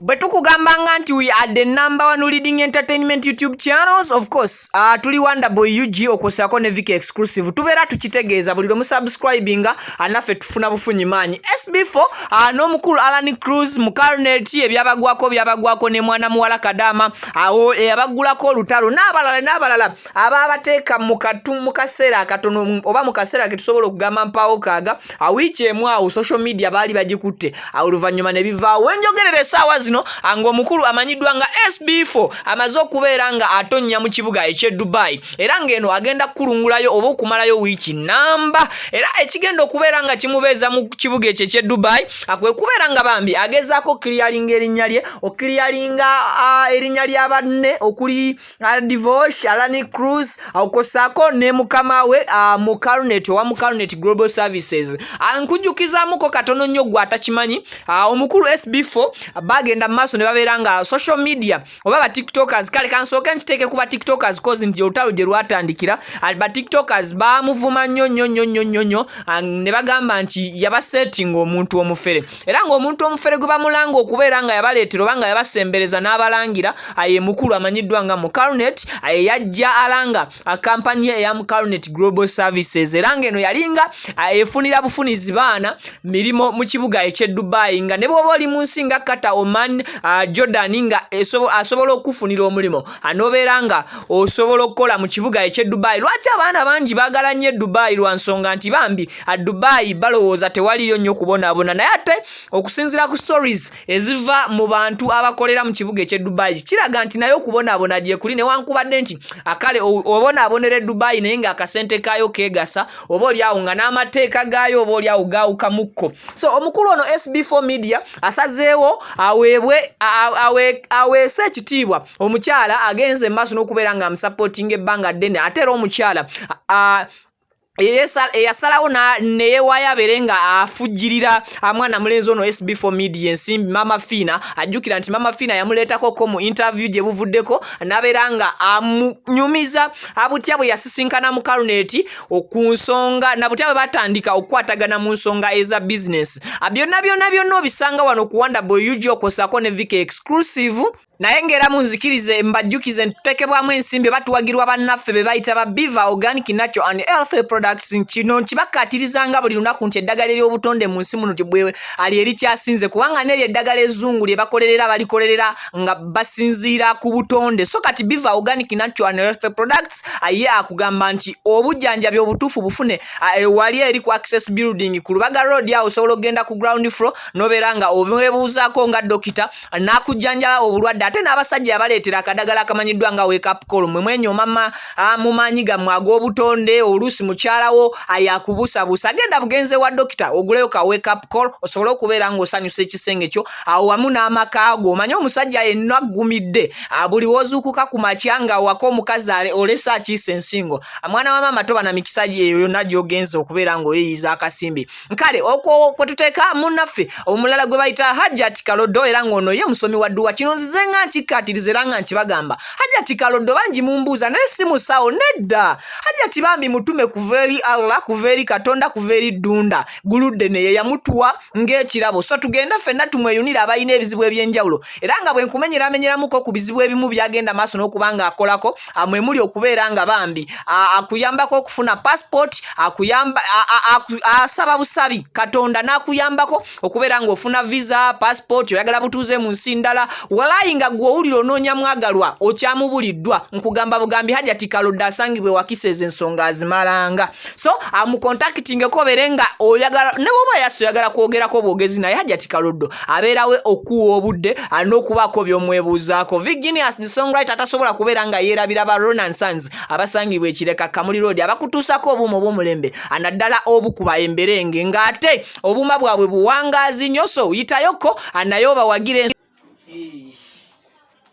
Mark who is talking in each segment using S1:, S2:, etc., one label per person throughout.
S1: bwe tukugambanga nti we are the number one leading entertainment youtube channels of course uh, tuli wonderboy ug okwosako ne vika exclusive tubeera tukitegeeza buli lwe musubscribinga anaffe ah, tufuna bufunyi maanyi sb4 uh, ah, n'omukulu alan cruz mu carnet ebyabagwako byabagwako ne mwana muwala kadama awo ah, eyabaggulako olutalo n'abalala n'abalala aba abateeka mu kaseera akatono oba mu kaseera ke tusobola okugamba mpaawo kaaga awiiki emu awo social media baali bagikutte oluvannyuma ne bivaawo wenjogerera essaawa zino ng'omukulu amanyiddwa nga sb4 amaze okubeera nga atonnya mu kibuga eky'e dubai era ng'eno agenda kukulungulayo oba okumalayo wiiki namba era ekigenda okubeera nga kimubeeza mu kibuga ekyo eky'e dubai akwe kubeera nga bambi agezaako okukiriyalinga erinnya lye okukiriyalinga erinnya lya banne okuli divorce alani cruz okosako ne mukama we uh, mu carnet owa mu carnet global services nkujjukizamuko katono nnyo gwe atakimanyi uh, omukulu sb4 bagenda mu maaso ne babeera nga social media oba ba tiktokers kale kansooke nkiteeke ku ba tiktokers cause nti olutalo gye lwatandikira ba tiktokers bamuvuma nnyo nnyo nnyo nnyo nnyo nnyo ne bagamba nti yabasetting omuntu omufere era ng'omuntu omufere gwe bamulanga okubeera nga yabaleetera oba nga yabasembereza n'abalangira aye mukulu amanyiddwa nga mucarnet aye yajja alanga akampani eya mucarnet global services era ng'eno yalinga efunira bufunizi baana mirimu mu kibuga eky'e dubai nga ne bwoba oli mu nsi nga kata oman jordan nga asobola okufunira omulimu anobeera nga osobola okukola mu kibuga eky'e dubai lwaki abaana bangi bagala nnyo e dubai lwa nsonga nti bambi dubayi balowooza tewaliyo nnyo kubonabona naye ate okusinzira ku stories eziva mu bantu abakolera mu kibuga ekye dubayi kiraga nti naye okubonabona gyekuli newankubadde nti akale obonabonera e dubayi naye nga akasente kaayo kegasa oba olyawo nga n'amateeka gaayo oba olyawo gaawukamukko so omukulu ono sb4 media asazeewo aweebwe aweese ekitiibwa omukyala agenze mu maaso n'okubeera nga amusapootinga ebbanga ddene ate era omukyala eyasalawo neyewaayo abeere nga afujjirira amwana mulenzi ono sb4 media ensimbi mama fiina ajjukira nti mama fiina yamuleetako ko mu interview gye buvuddeko nabeera nga amunyumiza abutya bwe yasisinkana mu kaluneti ku nsonga nabutya bwe batandika okukwatagana mu nsonga eza bizinesi byonna byonna byonna obisanga wano kuwanda boy ug okosako ne vika exclusive naye ng'era munzikirize mbajjukize ntutekebwamu ensimbi oba tuwagirwa bannaffe be bayita ba biva organic natural and healthy products kino nkibakkaatirizanga buli lunaku nti eddagala ery'obutonde mu nsi muno tibwe ali erikyasinze kubanga n'eryo eddagala ezzungu lye bakolerera balikolerera nga basinziira ku butonde so kati biva organic natural and healthy products aye akugamba nti obujjanjabi obutuufu bufune ewali eri ku access building ku lubaga road awo osobola okugenda ku ground floor nobeera nga obwebuuzaako nga dokita nakujjanjaba obulwadde ate n'abasajja yabaleetera akadagala akamanyiddwa nga wekapcol mwe mwenyoomama ah, mu maanyi gammwe ag'obutonde oluusi mukyalawo ayakubusabusa ah, agenda bugenze wa dokita oguleyo ka wekapcol osobole okubeera ng'osanyusa ekisenge kyo awo ah, wamu n'amaka go omanye omusajja yenna aggumidde buli wozuukuka ku makya nga waka omukazi olese akiisa ensingo mwana wa maama toba na mikisa eyo yonna gy'ogenza okubeera ng'oyeyiza akasimbi kale okwo kwe tuteeka munnaffe omulala gwe bayita hajjati kaloddo era ng'ono ye musomi wa dduwa kino nzize nga nkikkaatiriza era nga nkibagamba hajjati kaloddo bangi mumbuuza naye si musawo nedda hajjati bambi mutume kuva eri allah kuva eri katonda kuva eri ddunda guludde neye yamutuwa ng'ekirabo so tugenda ffenna tumweyunira abalina ebizibu eby'enjawulo era nga bwe nkumenyeramenyeramuko ku bizibu ebimu byagenda maaso n'okuba ng'akolako mwe muli okubeera nga bambi akuyambako okufuna passport akuyamba asaba busabi katonda n'akuyambako okubeera nga ofuna visa passport oyagala butuuze mu nsi ndala walayi nga gwe owulira onoonya mwagalwa okyamubuliddwa nkugamba bugambi hajati kalodde asangibwa ewakisa ezo ensonga azimalanga so amukontakitingeko obere nga oyagala ne bwoba yasi oyagala kwogerako obwogezi naye hajati kaloddo abeerawe okuwa obudde alina okubaako byomwebuuzaako virginius the songwriter atasobola kubeera nga yeerabira ba ronan sons abasangibwa ekireka kamuli road abakutuusako obuuma obwomulembe anaddala obu ku baemberenge ng'ate obuuma bwabwe buwangaazi nyo so yitayoko anaye obawagire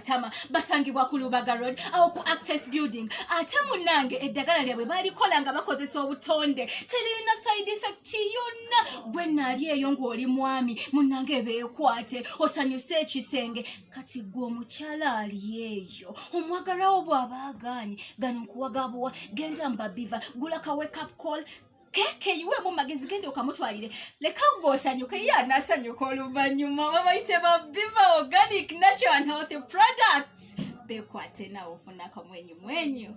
S2: Tama basangibwa ku Lubaga Road awo ku Access Building. Ate munnange eddagala lyabwe balikola nga bakozesa obutonde terina side effect yonna. Gwe naali eyo ng'oli mwami munnange beekwate osanyuse ekisenge kati gwe omukyala ali eyo omwagalawo bw'aba agaanyi gano nkuwagabuwa genda mbabiva gula ka wake up call keeke yiweemu magezi genda okamutwalire leka gwe osanyuke ye anasanyuka oluvannyuma babayise ba biva organic natural and healthy products bekwate nawe ofuna akamwenyu mwenyu